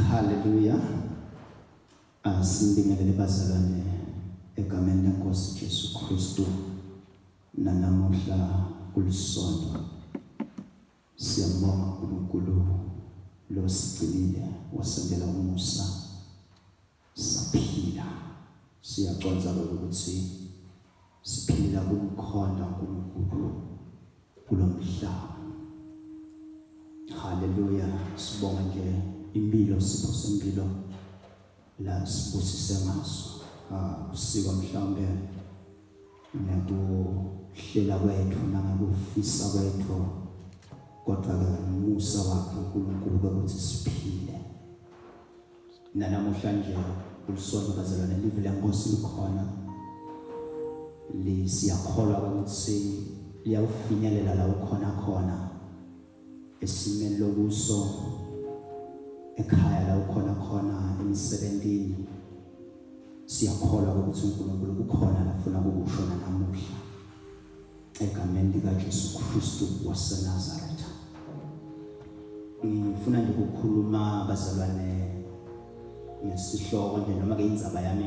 Haleluya. Asibingelele bazalwane egameni lenkosi Jesu Kristu nanamuhla kulisonto siyambonga uNkulunkulu losigcinile wasendela umusa Saphila. Siyaconsa lokho ukuthi siphila kumkhonda uNkulunkulu kulo mhlaba. Haleluya. Sibonga nje impilo sipho sempilo la sibusise ngaso. Ah, usiko mhlawumbe nekuhlela kwethu nangekufisa kwethu kodwa-ke umusa wakhe uNkulunkulu ukuthi siphile nanamuhlanje ulisonto bazalwane live lenkosi likhona lisiyakholwa ukuthi liyawufinyelela la ukhona khona esimeni lokuso ekhaya la ukhona khona emsebenzini siyakholwa ukuthi uNkulunkulu ukhona lafuna ukukusho namuhla Egameni likaJesu Kristu waseNazaretha. Ngifuna nje ukukhuluma bazalwane ngesihloko nje noma ke indzaba yami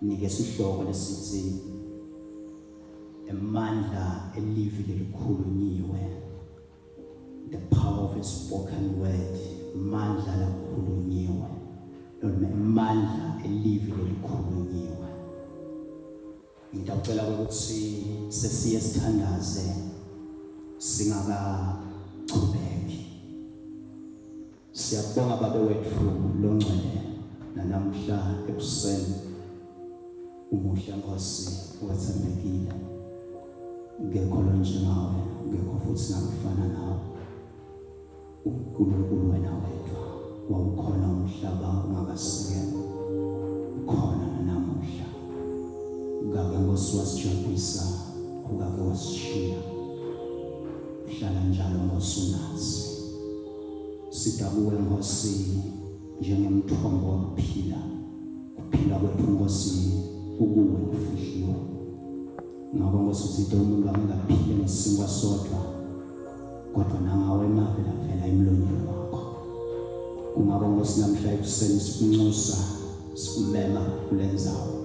nginike isihloko lesithi emandla elivi lelikhulunyiwe the power of a spoken word mandla lakhulunyiwe noma emandla elivi lelikhulunyiwe Ngitawucela ukuthi sesiye sithandaze singakachubeki. Siyakubonga babe wethu longcwele nanamhla ekuseni umuhle Nkosi wethembekile. Ngekho lonjengawe, ngekho futhi nakufana nawe. uNkulunkulu wena wedwa wawukhona umhlaba ungakasikelwa ukhona nanamuhla ukake nkosi wasijabhisa ukake wasishiya uhlala njalo nkosi unathi sidabuwe nkosi njengemthombo wokuphila kuphila kwethu nkosi ukuwe kufihliwe ngakho nkosi uthithe umuntu angekaphile ngesinkwa sodwa kodwa nawe mavela phela emlonyeni wakho kungaba nkosi namhla ekuseni sikunxusa sikumema kule nzawo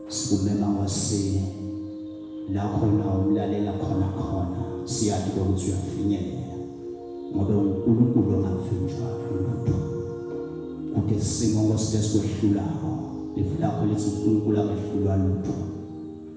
sikumema wasini la khona umlalela khona khona siyazi ukuthi uyafinyelela ngoba uNkulunkulu ongavinjwa umuntu kude simo ngosithe sikwehlulayo ifu lakho lithi uNkulunkulu akehlulwa lutho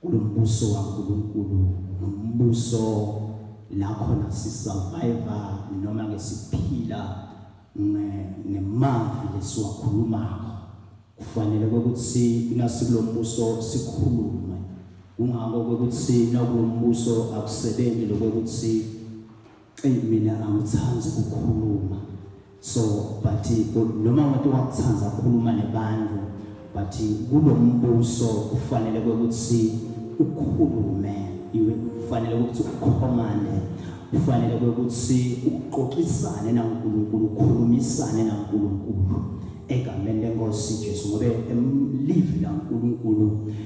kulombuso waNkulunkulu nombuso la khona sisurvive noma ke siphila ngemavi lesiwakhulumako kufanele ukuthi nasilombuso sikhulume kungako ukuthi nakulombuso akusebenzi lokuthi eyi mina angithandi ukukhuluma so but noma wade wakuthanda ukukhuluma nebantu but kulo mbuso kufanele kwekuthi ukhulume kufanele ukuthi ukhomande kufanele kwekuthi uxoxisane naNkulunkulu ukhulumisane naNkulunkulu egameni lenkosi Jesu ngoba emlivi laNkulunkulu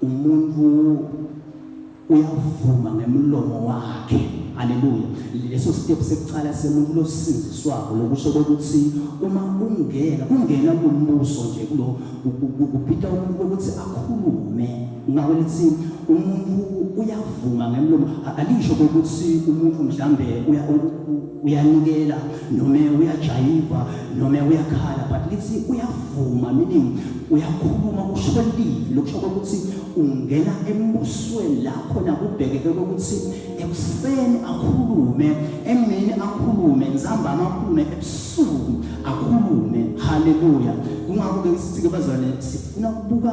Umuntu uyavuma ngemlomo wakhe. Haleluya. Leso step sekuqala semuntu losindiswako lokusho ukuthi uma ungena ungena kumbuso nje kulo kupita umuntu ukuthi akhulume ngawe lithi umuntu uyavuma ngemlomo alisho ukuthi umuntu mhlambe uya uyanikela noma uyajayiva noma uyakhala but lithi uyavuma meaning uyakhuluma usho livi lokusho kokuthi ungena embusweni la khona kubhekeke kokuthi ekuseni akhulume emini akhulume nzambama akhulume ebusuku akhulume haleluya kungakho-ke sithi-ke bazwane sifuna ukubuka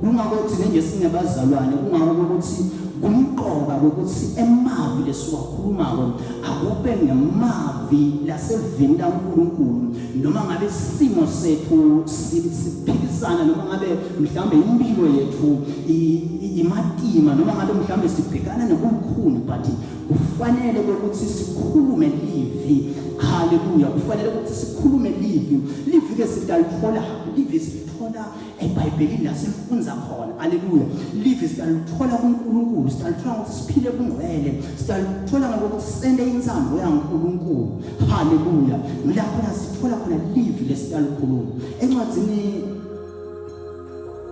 Kungakho thina njesingabazalwane kungakho kokuthi kumqoka kokuthi emavi lesiwakhulumako akube ngemavi lasevini lankulunkulu noma ngabe isimo sethu siphikisana noma ngabe mhlawumbe impilo yethu imatima noma ngabe mhlawumbe sibhekana nokukhulu but kufanele kokuthi sikhulume livi haleluya kufanele ukuthi sikhulume livi livi ke sitalithola livi silithola ebhayibhelini la sifunza khona aleluya live siyalithola kunkulunkulu siyalithola ngokuthi siphile kungcwele siyalithola ngokuthi sende insambo yankulunkulu haleluya lapho la sithola khona live lesiyalikhuluma encwadzini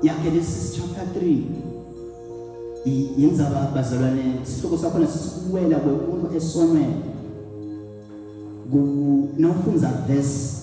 yagenesis chapter 3 yenzaba bazalwane isihloko sakhona sisiwela kwemuntu esonweni nawufunza verse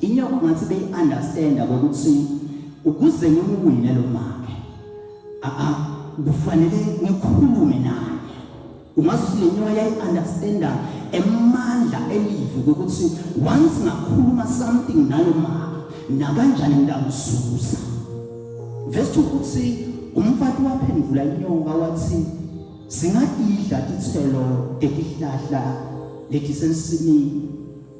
Inyoko ngathi beyi understand ukuthi ukuze ngimuwine lo make a a kufanele ngikhulume naye ungazi ukuthi le nyoka yayi-understanda emandla elivu kokuthi once ngakhuluma something nalo mama nakanjani ngidamzuza vese ukuthi umfati waphendula inyoka wathi singadidla ithelo elihlahla lethi sensimini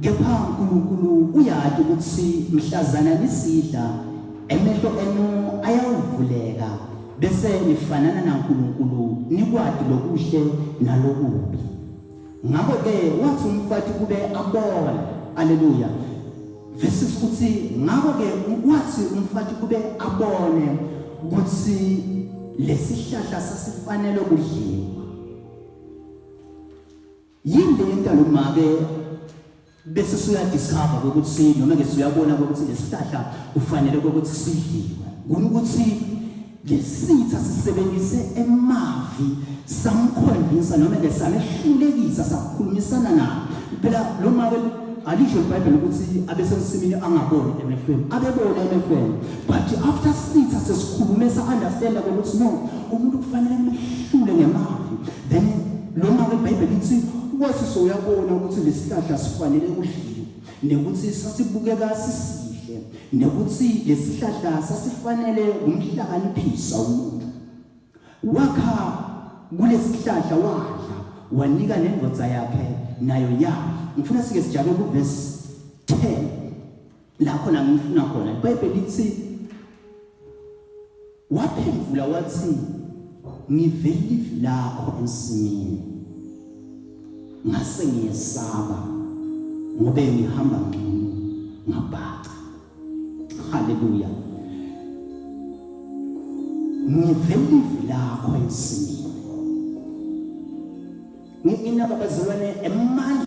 kepha uNkulunkulu uyati ukuthi mhlazana nisidla emehlo enu ayawuvuleka bese nifanana naNkulunkulu nikwati lokuhle nalokubi ngakho ke wathi umfati kube abona haleluya vesi ukuthi ngakho ke wathi umfati kube abone ukuthi lesihlahla sasifanele kudliwa Yini le yenta lo make bese suyadiscover ukuthi noma ke siyabona ukuthi lesihlahla ufanele ukuthi sidliwe ngona ukuthi lesitha sisebenzise emavi samkhonvisa noma ke samehlulekisa sakhulumisana na phela lo make alisho ibhayibheli ukuthi abesemsimini angaboni emehlweni abebona emehlweni but after sitha sesikhulume sa-understanda kokuthi no umuntu kufanele mehlule ngemavi then Noma-ke iBhayibheli lithi ukwaziswa uyabona ukuthi lesihlahla sifanele kudliwe nekuthi sasibukeka sisihle nekuthi lesihlahla sasifanele kumhlakaniphisa umuntu wakha kulesihlahla wadla wanika nendoda yakhe nayo yadla ngifuna sike sijake kuvesi 10 la khona ngifuna khona ibhayibheli lithi waphendula wathi ngivela ivi lakho ensimini ngase ngiyesaba ngobe ngihamba ngcono ngabhaca haleluya ngivela ivi lakho ensimini nginababazalwane emandla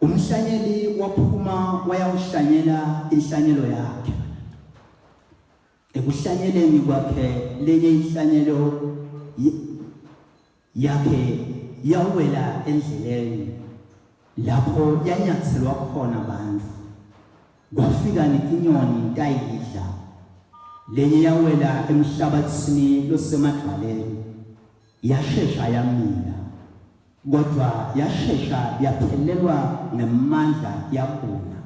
Umhlanyeli waphuma wayawuhlanyela inhlanyelo yakhe. Ekuhlanyeleni kwakhe lenye inhlanyelo yakhe yawela endleleni lapho yanyathelwa khona abantu. Kwafika netinyoni tayidla. Lenye yawela emhlabathini losemadwaleni. Yashesha yamila, kodwa yashesha yaphelelwa ngamandla yabuna,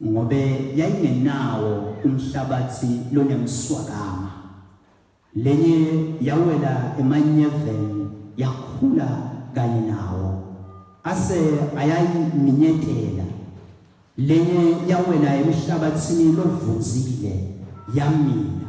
ngobe yayingenawo umhlabathi lonemswakama. Lenye yawela emanyeveni yakhula kanye nawo, ase ayayiminyetela. Lenye yawela emhlabathini lovunzile yamila.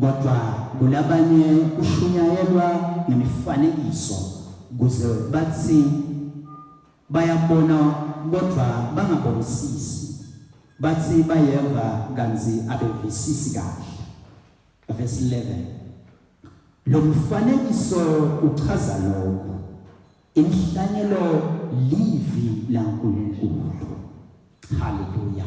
Kodwa kulabanye kushunyayelwa ngemifanekiso kuze bathi bayabona kodwa bangabonisisi bathi bayeva kanzi abevisisi kahle verse 11 lo mfanekiso uchaza lokho inhlanyelo livi laNkulunkulu haleluya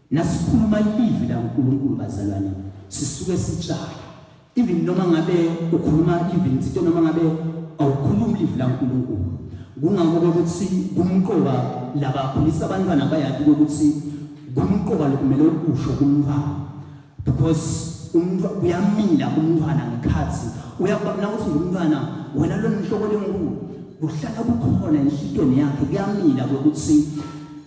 Nasikhuluma iLivi laNkulunkulu, bazalwane, sisuke sitshaya. Even noma ngabe ukhuluma iLivi lensito, noma ngabe awukhulumi iLivi laNkulunkulu, kungako ukuthi kumqoka labakhulisa abantwana bayati ukuthi kumqoka lokumele ukusho kumntwana because umuntu uyamila kumntwana ngekhathi uyakubona ukuthi ngumntwana wena lo nhloko lenkulu kuhlala kukhona enhlitweni yakhe kuyamila ukuthi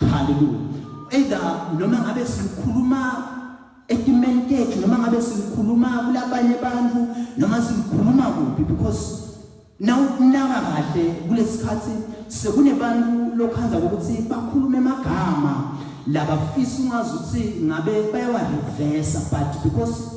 Hallelujah. Either noma ngabe sikhuluma etimeni tethu noma ngabe sikhuluma kulabanye abantu noma sikhuluma kuphi because nawukunaka kahle kulesikhathi sekunebantu lokhanza ukuthi bakhulume amagama labafisa ungazi ukuthi ngabe bayawarivesa but because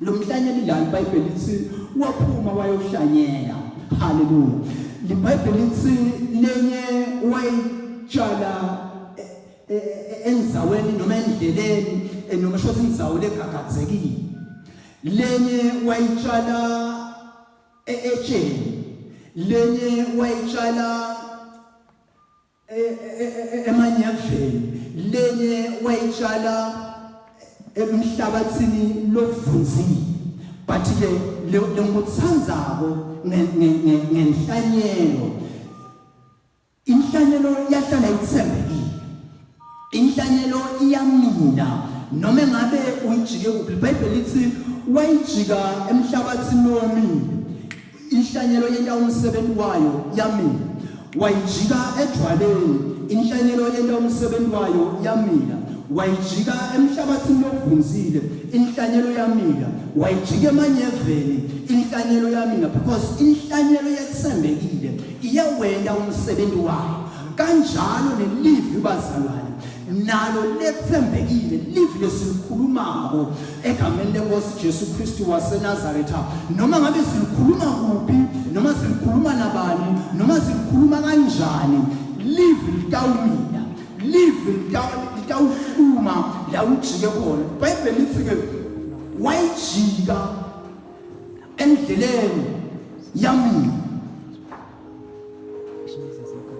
Lo mhlanyeli la iBhayibheli lithi waphuma wayohlanyela. Haleluya. LiBhayibheli lithi lenye wayitshala e, e, e, enzaweni noma endleleni noma shothi inzawo legagadzekile. Lenye wayitshala etsheni. Lenye wayitshala emanyaveni lenye wayitshala emhlabathini lovunzile but ke lenguthandzako ngenhlanyelo inhlanyelo yahlala ithembekile inhlanyelo iyamina noma engabe uyijike kuphi ibhayibheli lithi wayijika emhlabathini womile Inhlanyelo yenta umsebenzi wayo yamila. Wayijika edwaleni. Inhlanyelo yenta umsebenzi wayo yamila. Wayijika emhlabathini ovunzile. Inhlanyelo yamila. Wayijika emanyeveni. Inhlanyelo yamila because inhlanyelo yethembekile iyawenda umsebenzi wayo. Kanjalo nelivi bazalwane nalo lethembekile livi lesikhulumako egameni lenkosi Jesu Kristu waseNazaretha noma ngabe sikhuluma kuphi noma sikhuluma nabani noma sikhuluma kanjani live litawumila live litawuhluma la ujike khona ibhayibheli lithi ke wayijika endleleni yamina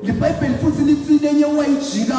libhayibheli futhi lithi lenye wayijika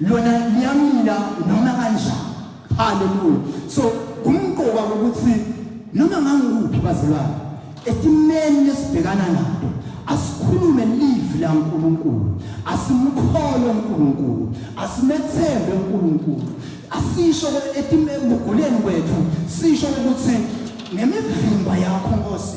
lona liyamila noma kanjani haleluya so kumqoka ukuthi noma ngangikuphi bazalwane esimeni lesibhekana nato asikhulume live la uNkulunkulu asimkhole uNkulunkulu asimethembe uNkulunkulu asisho etimeguguleni kwethu sisho ukuthi ngemivimba yakho Nkosi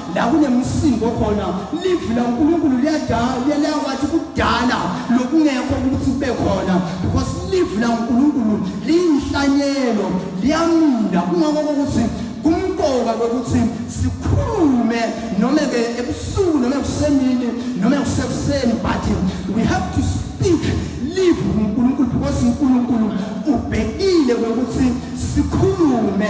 la kunemsindo khona livi lankulunkulu liyawathi kudala lokungekho ukuthi kube khona because livi lankulunkulu liyinhlanyelo liyamila kungakho kokuthi kumqoka kokuthi sikhulume noma ke ebusuku noma kusemini noma kusekuseni but we have to speak live uNkulunkulu because uNkulunkulu ubhekile ukuthi sikhulume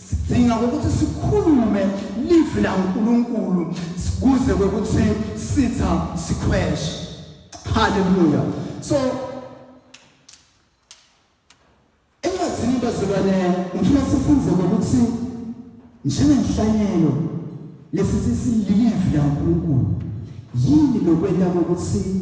sidinga ukuthi sikhulume live la uNkulunkulu kuze ukuthi sitha sikhweshe haleluya so encwadini bazibane ngifuna sifunze ukuthi njengenhlanyelo lesi sisilive la uNkulunkulu yini lokwenda kokuthi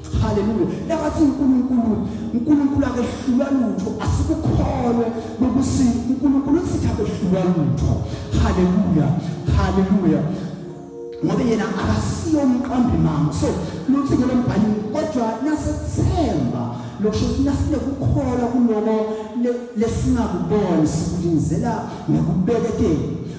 Haleluya. Nakathi uNkulunkulu, uNkulunkulu akehlulwa lutho, asikukholwe ngokuthi uNkulunkulu usithi akehlulwa lutho. Haleluya. Haleluya. Ngoba yena akasiyo umqambi mama. So, luthi ngelo mbhalo kodwa nasethemba lokusho ukuthi nasinekukholwa kuloko lesingakuboni sikulinzela ngokubekekela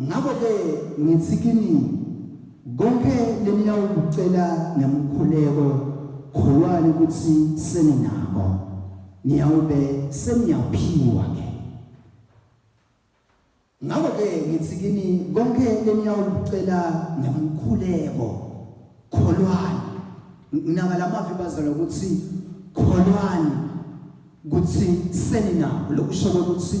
Ngakho-ke ngithi kini, konke leniyakukucela ngemkhuleko, kholwani ukuthi seninako, niyawube seniyaphiwa-ke. Ngakho-ke ngithi kini, konke leniyakukucela ngemkhuleko, kholwani. Nginaka la mavi bazalwa ukuthi kholwani ukuthi seninako, lokusho ukuthi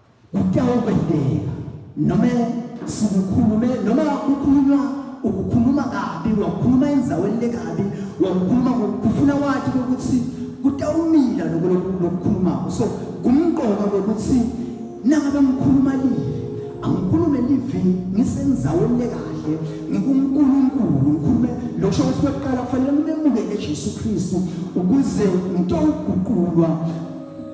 Kuyawubhedela noma sikukhulume noma kukhulunywa ukukhuluma kabi wakukhuluma enzaweni lekabi wakukhuluma kufuna wathi ukuthi kutawumila lokho lokukhulumako so kumqoka kokuthi nangabe ngikhuluma live angikhulume live ngisenzaweni lekahle ngikunkulunkulu ngikhulume lokusho ukuthi kweqala kufanele ngimemukele jesu kristu ukuze ngitowuguqulwa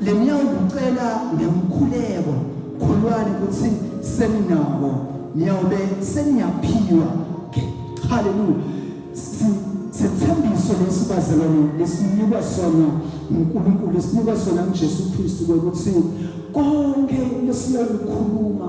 Le mnyawumbe ucela ngemkhuleko khulwani ukuthi seninabo niyawube seniyaphiwa haleluya sithembiso lesi bazalwane lesinikwa sona uNkulunkulu esinikwa sona uJesu Kristu ukuthi konke lesiyakukhuluma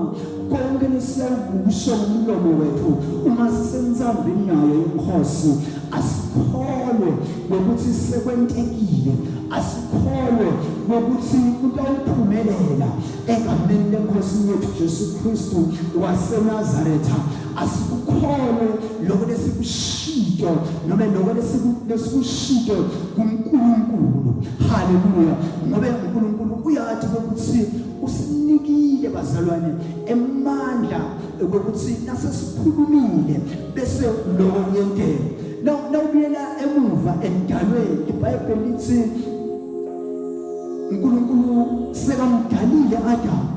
konke lesiyakusho ngomlomo wethu uma sisemzambini nayo inkosi asikholwe ngokuthi sekwentekile asikholwe ngokuthi utawuphumelela egameni lenkosi yethu Jesu Kristu waseNazaretha asikukholwe lokho lesikushito noma lokho lesikushito kuNkulunkulu haleluya ngoba uNkulunkulu uyathi ukuthi usinikile bazalwane emandla ukuthi nasesikhulumile bese lokho kuyentela nawubuyela emuva emdalweni ibhayibheli lithi unkulunkulu sekamdalile adamu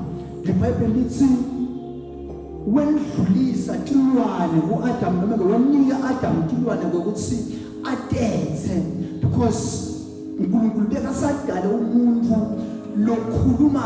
libhayibheli lithi welidlulisa tilwane ku-adamu noma ke wanika adamu tilwane kokuthi atethe because unkulunkulu bekasadale umuntu lokhuluma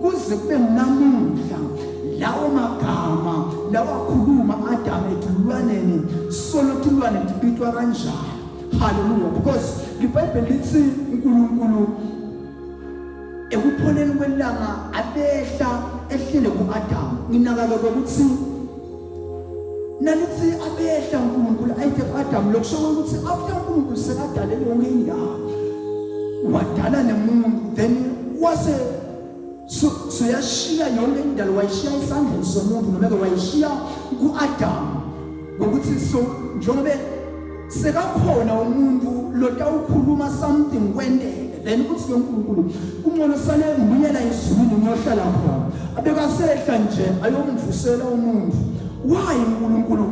Kuze kube namuhla lawo magama lawakhuluma Adamu edulwaneni solo tulwane libitwa kanjalo. Hallelujah because iBhayibheli lithi uNkulunkulu ekupholeni kwelanga abehla ehlele kuAdamu. Nginakake ukuthi nanithi abehla uNkulunkulu ayide kuAdamu lokusho ukuthi after uNkulunkulu sekadale yonke indawo wadala nemuntu then wase so soyashiya yonke indalo wayishiya isandleni somuntu noma ke wayishiya kuAdamu ngokuthi so njengoba sekakhona umuntu lotawukhuluma something kwenteke then uthi ke uNkulunkulu kungcono sale ngibuyela ezulwini ngiyohlala khona abekasehla nje ayomvusela umuntu why uNkulunkulu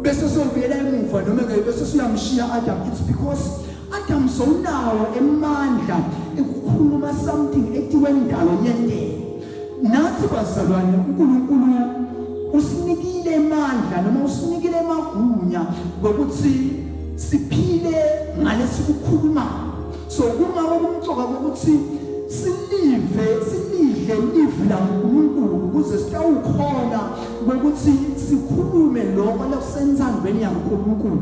bese sobuyela emuva noma ke bese siyamshiya Adam it's because Adam sowunawo emandla ekukhuluma something etiwe ndalo yenteke Nathi bazalwane uNkulunkulu usinikile amandla noma usinikile amagunya ngokuthi siphile ngalesi kukhuluma so kuma okumcoka ukuthi silive silidle livi laNkulunkulu ukuze sitawukhona ukuthi sikhulume lokho lokusenzandweni yaNkulunkulu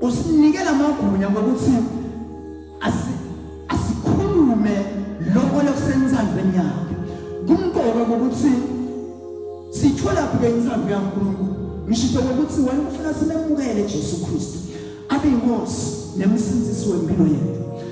usinikela amagunya ngokuthi asikhulume lokho lokusensandweni yakhe kumqoka ngokuthi sitholaphi ke insando yankulunkulu ngisho ngokuthi wena ufuna simemukele jesu kristu abe yinkosi nemsindisi wempilo yethu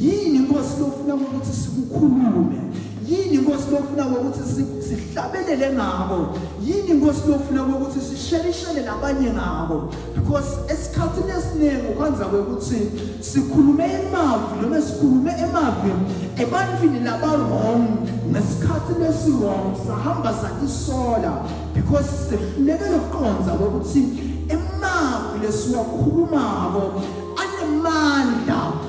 yini inkosi lofuna ukuthi sikukhulume yini inkosi lofuna ukuthi sihlabelele ngabo yini inkosi lofuna ukuthi sishelishele nabanye ngabo because esikhathini esiningi ukwenza kwekuthi sikhulume emavi noma sikhulume emavi ebantwini laba-wrong ngesikhathi lesi-wrong sahamba sakisola because sihluleke lokuqonda kwekuthi emavi lesiwakhulumako anemandla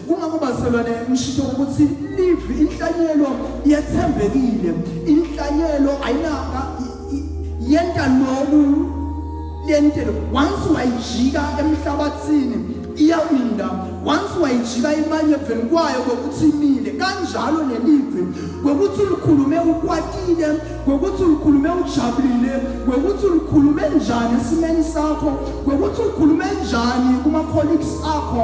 Kungakho bazalwane ngisho ukuthi live inhlanyelo yethembekile. Inhlanyelo ayinaka yenta loku lentelo once wayijika emhlabathini iyaminda once wayijika imanye veni kwayo kokuthi imile kanjalo nelive kokuthi ulikhulume ukwatile kokuthi ulikhulume ujabulile kokuthi ulikhulume njani esimeni sakho kokuthi ulikhulume njani kuma colleagues akho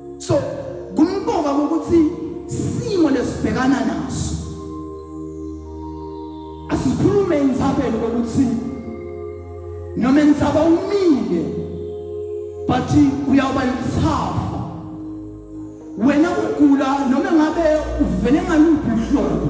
so kumqoka ukuthi simo lesibhekana naso asikhulume inzabelo ukuthi noma inzaba umile but uyawuba yithafa wena ugula noma ngabe uvele ngaluphi uhlobo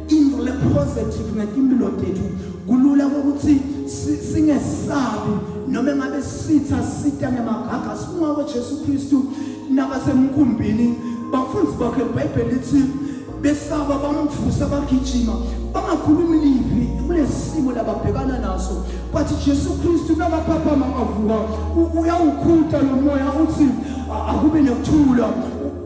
into le positive ngetimpilo tethu kulula ukuthi singesabi noma ngabe sitha sita ngemagaga sifuna uJesu Kristu nabasemkhumbini bafunzi bakhe iBhayibheli lithi besaba bamvusa bagijima bangakhulumi livi kulesimo lababhekana naso but Jesu Kristu nakaphaphama avuka uyawukhuta lomoya uthi akube nekuthula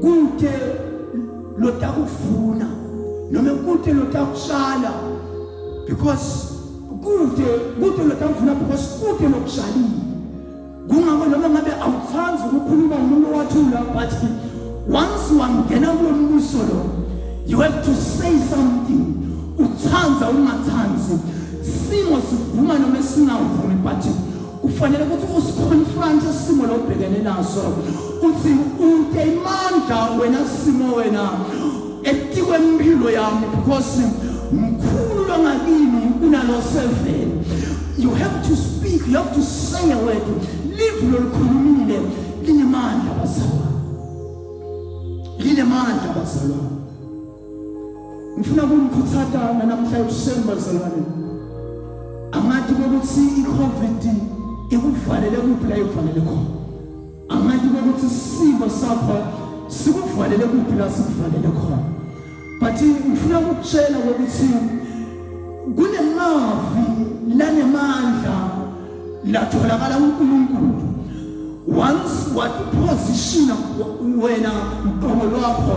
kute lotakuvuna noma kute lotakutshala because kute kute lotakuvuna because kute lokutshalile kungako noma ngabe awuthandi ukukhuluma umuntu owathula but once wangena kulo mbuso lo you have to say something uthanda ungathandi simo sivuma noma singavumi but kufanele ukuthi usiconfronte isimo lobhekene naso uthi ude imandla wena simo wena etikwe impilo yami because mkhulu longakini kunalo seven you have to speak you have to say a word live lolukhulumile linemandla bazalwane linemandla bazalwane ngifuna kumkhuthaza namhla ekuseni bazalwane angathi ukuthi i-covid ikuvalele kuphi la ivalele khona angathi ukuthi isimo sakho sikuvalele kuphi la sikuvalele khona but ngifuna ukutshela ukuthi kunemavi lanemandla latholakala uNkulunkulu once wakuphosishina wena mqomo lwakho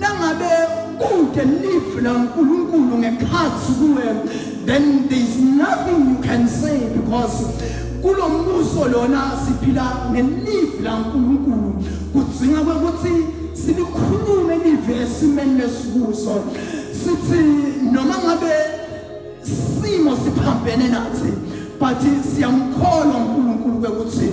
Nangabe kude live la uNkulunkulu ngekhathi kuwe then there is nothing you can say because kulo mbuso lona siphila ngelive la uNkulunkulu kudzinga ukuthi silikhulume live esimeni lesikuso sithi noma ngabe simo siphambene nathi but siyamkholwa uNkulunkulu ukuthi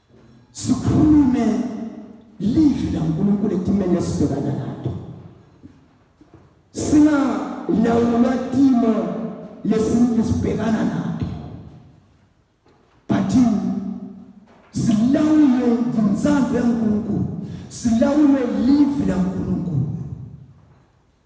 sikhulume livi laNkulunkulu etimeni esibhekana nato singalawulwa timo lesintu sibhekana nato but silawulwe yintsandvo yaNkulunkulu silawulwe livi laNkulunkulu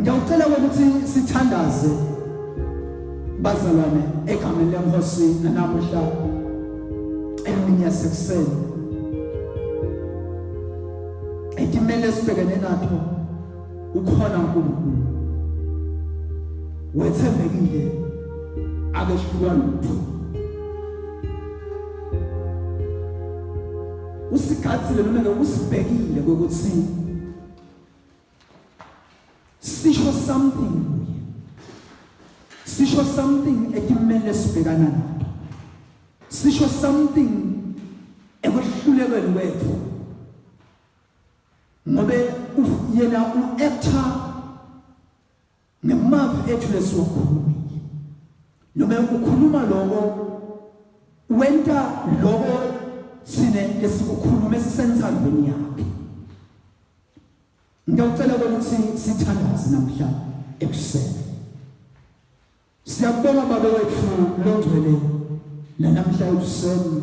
Ngiyacela ukuthi sithandaze bazalwane egameni lenkosi nanamuhla emini yasekuseni etimele sibhekene natho ukhona uNkulunkulu wethembekile akehlulwa lutho usigathile noma usibhekile ukuthi sisho something kuye sisho something ekumele sibhekana nayo sisho something ekwehlulekweni kwethu ngobe yena u-actor Ngemavi ethu lesiwakhulumile. Noma ukukhuluma lokho wenta lokho sine lesikukhuluma esisensandweni yakhe. Ngiyacela ukuthi sithandaze namhla ekuseni. Siyabonga baba wethu longcwele namhla ekuseni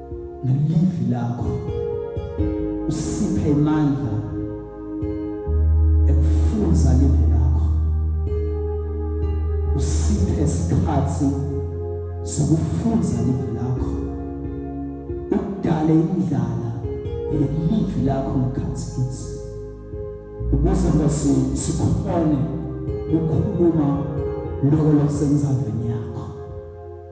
ngelivi lakho usiphe imandla ekufunza livi lakho usiphe isikhathi sokufunza livi lakho udale indlala ngelivi lakho ngekhathi kithi ukuze bese sikhone ukukhuluma lokho lokusenza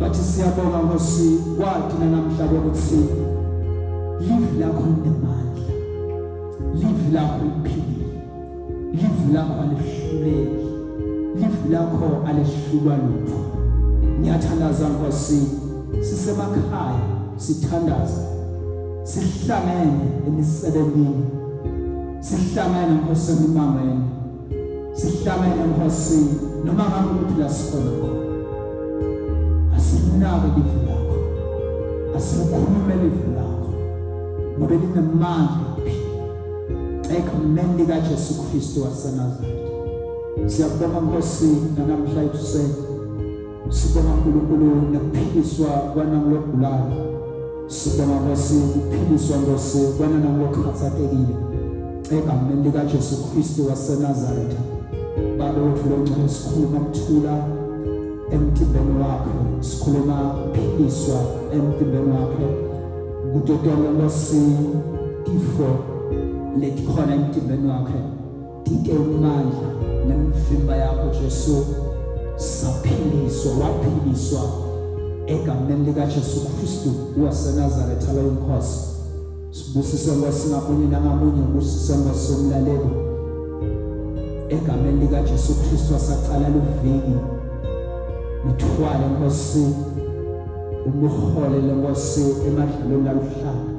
Bathi siyabonga Nkosi kwati namhla ukuthi live lakho linemandla. Live lakho liphilile. Live lakho alihluleki. Live lakho alihlulwa lutho. Ngiyathandaza Nkosi sisemakhaya sithandaza sihlangene emisebenzini sihlangene Nkosi emimangweni sihlangene enkosini noma ngabe ukuthi la sikhona khona asinake livu lakho asikhulume livu lakho ngoba linemandla ekhumeni likaJesu Kristu waseNazaretha siyabonga Nkosi namhla ekuseni Sibonga uNkulunkulu ngokuphiliswa kwanangulokugulayo. Sibonga Nkosi ukuphiliswa Nkosi kwananangulokhathatekile. Egameni likaJesu Kristu waseNazaretha. Baba wethu longcwele sikhuluma ukuthula emtimbeni wakhe. Sikhuluma ukuphiliswa emtimbeni wakhe. Kudodwa Nkosi ifo letikhona emtimbeni wakhe. Dike umandla nemvimba yakho Jesu saphiliswa waphiliswa egameni likaJesu Kristu waseNazaretha lo inkosi sibusise Nkosi ngamunye nangamunye ubusise Nkosi umlaleli egameni likaJesu Kristu wasaqala luviki ngithwale Nkosi umhole lenkosi emadlelweni aluhlanga